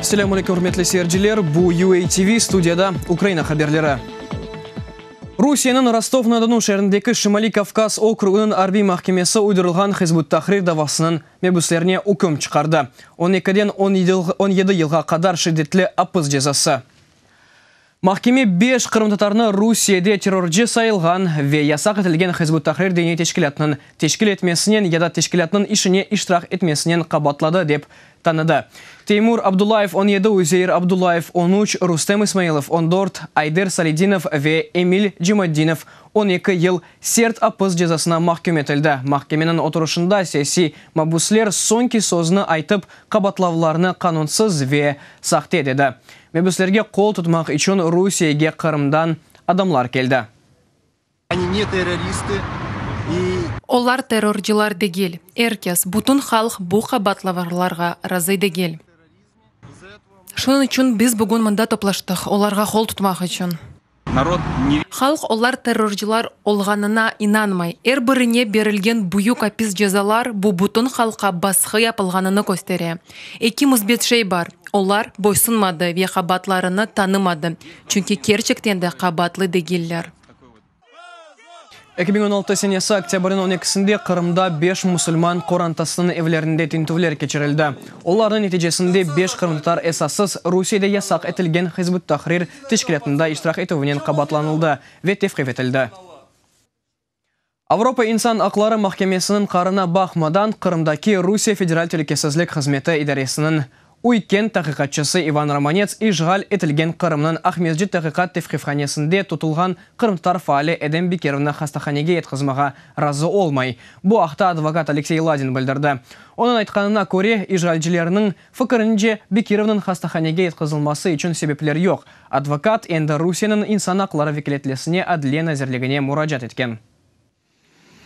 Selâm aleyküm, ürmetli seyirciler! Bu UA TV, studiyada Ukraina haberleri. Rusiyeniñ Rostov-na-Donu şeerindeki Şimaliy Kavkaz okrugınıñ arbiy mahkemesi uydurılğan Hizb ut-Tahrir davasınıñ Mebüslerine üküm çıqardı. On ekiden on yedi yılğa qadar şiddetli apis cezası. Mahkeme beş qırımtatarnı Rusiyede terrorcı sayılğan ve yasaq etilgen Hizb ut-Tahrir diniy teşkilâtınıñ teşkil etmesinen ya da teşkilâtınıñ işine iştirak etmesinen qabaatladı, dep tanıdı. Teymur Abdullayev, on yedi, Üzeyir Abdullayev, on üç, Rustem İsmailov, on dört, Ayder Salidinov ve Emil Cimaddinov, on eki yıl, sert apis cezasına mahküm etildi. Mahkemeniñ oturışında siyasiy mabüsler soñki sözni aytıp, qabatlavlarnı qanunsız ve sahte dedi. Mebüslerge qol tutmaq içün Rusiyege Qırımdan adamlar keldi. Olar terrorcılar degil. Er kes, bütün halq bu qabatlavlarğa razı degil. Şunıñ içün biz bugün mında toplaştıq, olarğa qol tutmaq içün. Halq olar terrorcılar olğanına inanmay. Er birine berilgen büyük apis cezalar bu bütün halqqa basqı yapılğanını köstere. Eki müsbet şey bar, olar boysunmadı ve qabaatlarını tanımadı, çünki kerçekten de qabaatlı degiller. Eki biñ on altı senesi oktâbrniñ on ekisinde Qırımda beş musulman qorantasınıñ evlerinde tintüvler keçirildi. Olarnıñ neticesinde beş qırımtatar esassız Rusiyede yasaq etilgen Hizb ut-Tahrir teşkilâtında iştirak etüvinen qabaatlanıldı ve tevqif etildi. Avropa insan aqları mahkemesiniñ qarına baqmadan, Qırımdaki Rusiye Federal Telükesizlik Hızmeti idaresiniñ Uy kent taqiqatçısı İvan Romanets işğal etilgen Qırımnıñ Aqmescit taqiqat tevqifhanesinde tutulğan qırımtatar faali Edem Bikerevni hastahanege yetqizmağa razı olmay. Bu aqta advokat Aleksey Ladin bildirdi. Onıñ aytqanına köre, işğalcilerniñ fikirince, Bekirevniñ hastahanege yetqizilması içün sebepler yoq. Advokat endi Rusiyeniñ insan aqları vekâletlesine Adliye nazirligine muracaat etken.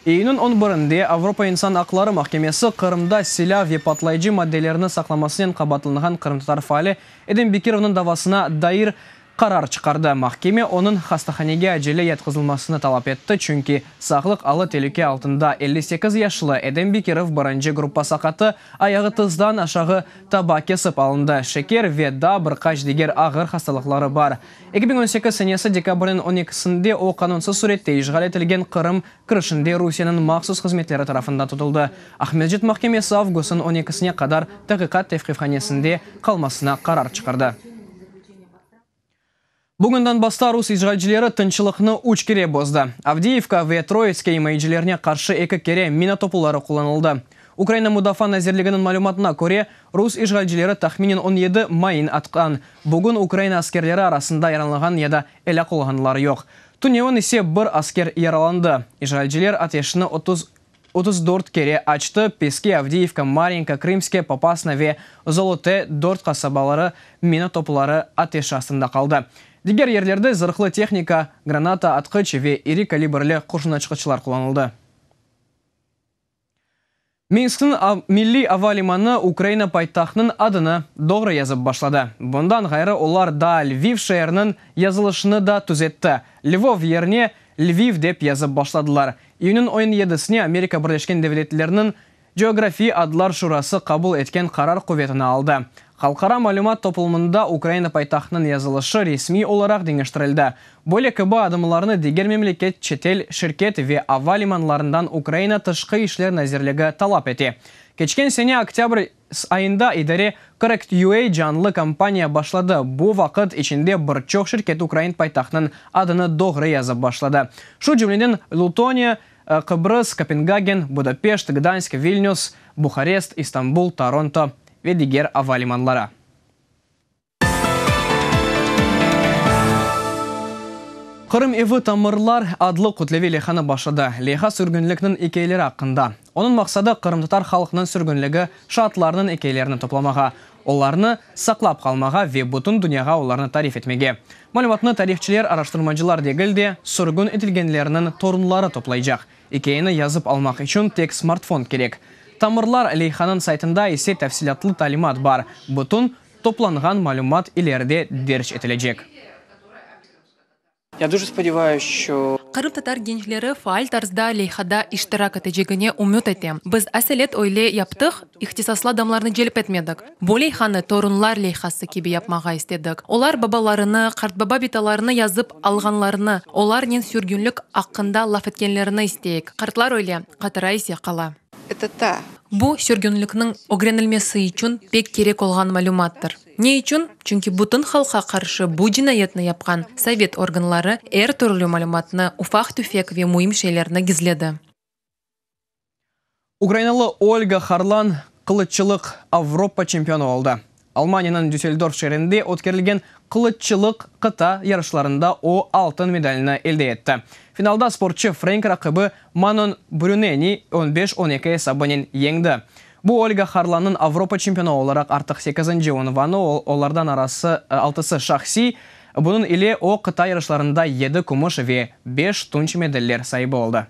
İyünniñ on birinde Avropa insan aqları mahkemesi Qırımda silâ ve patlayıcı maddelerni saqlamasınen qabaatlanğan qırımtatar faali Edem Bekirovnıñ davasına dair qarar çıqardı. Mahkeme onıñ hastahanege acele yatqızılmasını talap etti, çünki sağlıq alı telüke altında. Elli sekiz yaşlı Edem Bekirov birinci gruppa saqatı, ayağı tızdan aşağı taba kesip alındı, şeker ve daa bir qaç diger ağır hastalıqları bar. Eki biñ on sekiz senesi dekabrniñ on ekisinde o, qanunsız sürette işğal etilgen Qırım kirişinde Rusiyeniñ mahsus hızmetleri tarafından tutuldı. Aqmescit mahkemesi avgustniñ on ekisine qadar taqiqat tevqifhanesinde qalmasına qarar çıqardı. Bugünden basta rus işğalcileri tınçlıqnı üç kere bozdı. Avdiyivka ve Troitske imayecilerine qarşı eki kere mina topuları qullanıldı. Ukraina Mudafaa nazirliginiñ malümatına köre, Rus işğalcileri tahminen on yedi mayın atqan. Bugün Ukraina askerleri arasında yaralanğan ya da elâk olğanlar yoq. Tünevin ise bir asker yaralandı. İşğalciler ateşni otuz otuz dört kere açtı, Peski, Avdiyivka, Mariyinka, Krımske, Popasna ve Zolote dört qasabaları mina topları ateş astında qaldı. Diger yerlerde zırhlı tehnika, granata atqıç ve iri kalibrli qurşunaçqıçlar qullanıldı. Minskniñ milliy ava limanı Ukraina paytahtınıñ adını doğru yazıp başladı. Bundan ğayrı olar daa Lviv şeeriniñ yazılışını da tüzetti, Lvov yerine Lviv dep yazıp başladılar. İyünniñ on yedisine Amerika Birleşken Devletleriniñ Coğrafiy adlar şurası qabul etken qarar quvetini aldı. Halqara malümat toplumında Ukraina paytahtınıñ yazılışı resmiy olaraq deñiştirildi. Böyle kibi adımlarnı diger memleket, çetel şirket ve ava limanlarından Ukraina Tışqı işler nazirligi talap ete. Keçken sene oktâbr ayında idare Correct.ua canlı kampaniya başladı, bu vaqıt içinde bir çoq şirket ukrain paytahtınıñ adını doğru yazıp başladı, şu cümleden Lutoniya, Qıbrıs, Kopengagen, Budapeşt, Gdansk, Vilnüs, Buharest, İstanbul, Toronto ve diger ava limanları. Qırım evi tamırlar adlı kütleviy leyhanı başladı. Leyha sürgünlikniñ ekâyeleri aqqında. Onıñ maqsadı qırımtatar halqnıñ sürgünligi şaatlarınıñ ekâyelerini toplamağa, olarnı saqlap qalmağa ve bütün dünyağa olarnı tarif etmege, malümatnı tarihçiler, araştırmacılar degil de, sürgün etilgenlerniñ torunları toplaycaq. İkâyeni yazıp almaq içün tek smartfon kerek. Tamırlar leyhanıñ saytında ise tafsilâtlı talimat bar, bütün toplanğan malümat ileride derc etilecek. Qırımtatar gençleri faal tarzda leyhada iştirak etecegine ümüt etem. Biz aselet öyle yaptıq, ihtisaslı adamlarnı celp etmedik. Bu leyhanı torunlar leyhası kibi yapmağa istedik. Olar babalarını, qartbaba bitalarını yazıp alğanlarını, olarnen sürgünlik aqqında laf etkenlerini isteyik. Qartlar öyle, qatıra ise qala. Bu, sürgünlikniñ ögrenilmesi içün pek kerek olğan malümattır. Ne içün? Çünki bütün halqa qarşı bu cinayetni yapqan sovet organları er türlü malümatnı, ufaq-tüfek ve müim şeylerni gizledi. Ukrainalı Olga Harlan qılıççılıq Avropa çempionu oldı. Almaniyeniñ Düsseldorf şeerinde ötkerilgen qılıççılıq qıta yarışlarında o, altın medalni elde etti. Finalda sportçı frenk raqibi Manon Brüneni on beş on eki esabınen yeñdi. Bu Olga Harlannıñ Avropa çempiona olaraq artıq sekizinci unvanı, olardan arası altısı şahsiy, bunıñ ile o, qıta yarışlarında yedi kümüş ve beş tunç medaller saibi oldı.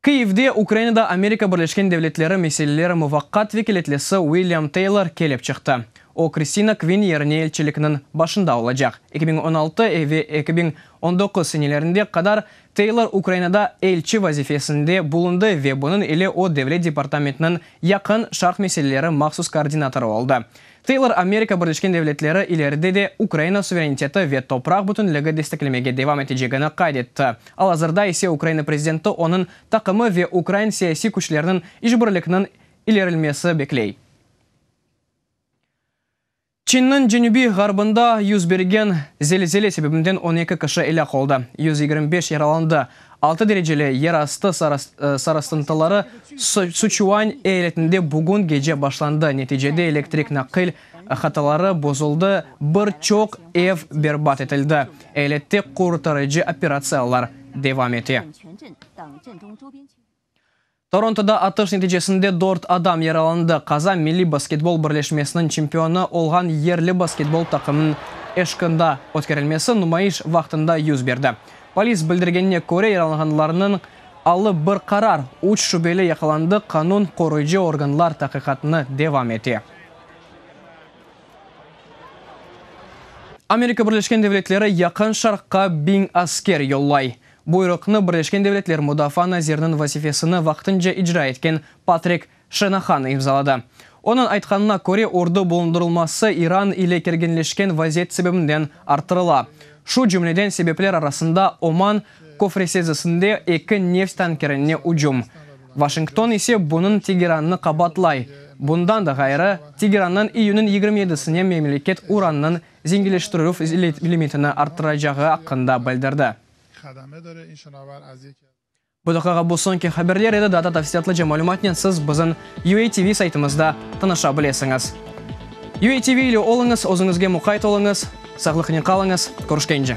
Kyivde Ukrainada Amerika Birleşken Devletleri meseleleri muvaqqat vekâletlisi Uilliam Teylor kelip çıqtı. O, Kristina Kvin yerine elçilikniñ başında olacaq. Eki biñ on altı ve eki biñ on doquz senelerinde qadar Teylor Ukrainada elçi vazifesinde bulundı ve bunıñ ile o Devlet departamentiniñ Yaqın Şarq meseleleri mahsus koordinatorı oldı. Teylor Amerika Birleşken Devletleri ileride de Ukraina suvereniteti ve topraq bütünligi desteklemege devam etecegini qayd etti, al-azırda ise Ukraina prezidenti onıñ taqımı ve ukrain siyasiy küçleriniñ işbirlikniñ ilerilmesi bekley. Çinniñ cenübiy-ğarbında yüz bergen zelzele sebebinden on eki kişi elâk oldı, yüz yigirmi beş yaralandı. Altı dereceli yer astı sarısıntıları Suçuañ eyaletinde bugün gece başlandı, neticede elektrik naqil hataları bozuldı, bir çoq ev berbat etildi. Eyalette qurtarıcı operatsiyalar devam ete. Torontoda atış neticesinde dört adam yaralandı, qaza Milliy basketbol birleşmesiniñ çempionı olğan yerli basketbol taqımınıñ eşqında ötkerilmesi numayış vaqtında yüz berdi. Polis bildirgenine köre, yaralanğanlarnıñ alı bir qarar, üç şübeli yaqalandı, qanun qoruyıcı organlar taqiqatnı devam ete. Amerika Birleşken Devletleri Yaqın Şarqqa biñ asker yollay. Buyruqnı Birleşken Devletler Mudafaa naziriniñ vazifesini vaqtınca icra etken Patrik Şenahan imzaladı. Onıñ aytqanına köre, ordu bulundırılması İran ile kerginleşken vaziyet sebebinden arttırıla, şu cümleden sebepler arasında Oman köfresezisinde eki neft tankerine ücüm. Vaşington ise bunıñ Tegerannı qabatlay. Bundan da ğayrı, Tegerannıñ iyünniñ yigirmi yedisine memleket urannıñ zenginleştirüv limitini arttıracağı aqqında bildirdi. Bu daqiqa bu soñki haberler edi, daa da tafsilâtlıca malümatnen siz bizim UATV saytımızda tanışa bilesiñiz. UATV ile oluñız, özüñizge muqayt oluñız, sağlıqnen qalıñız, körüşkence!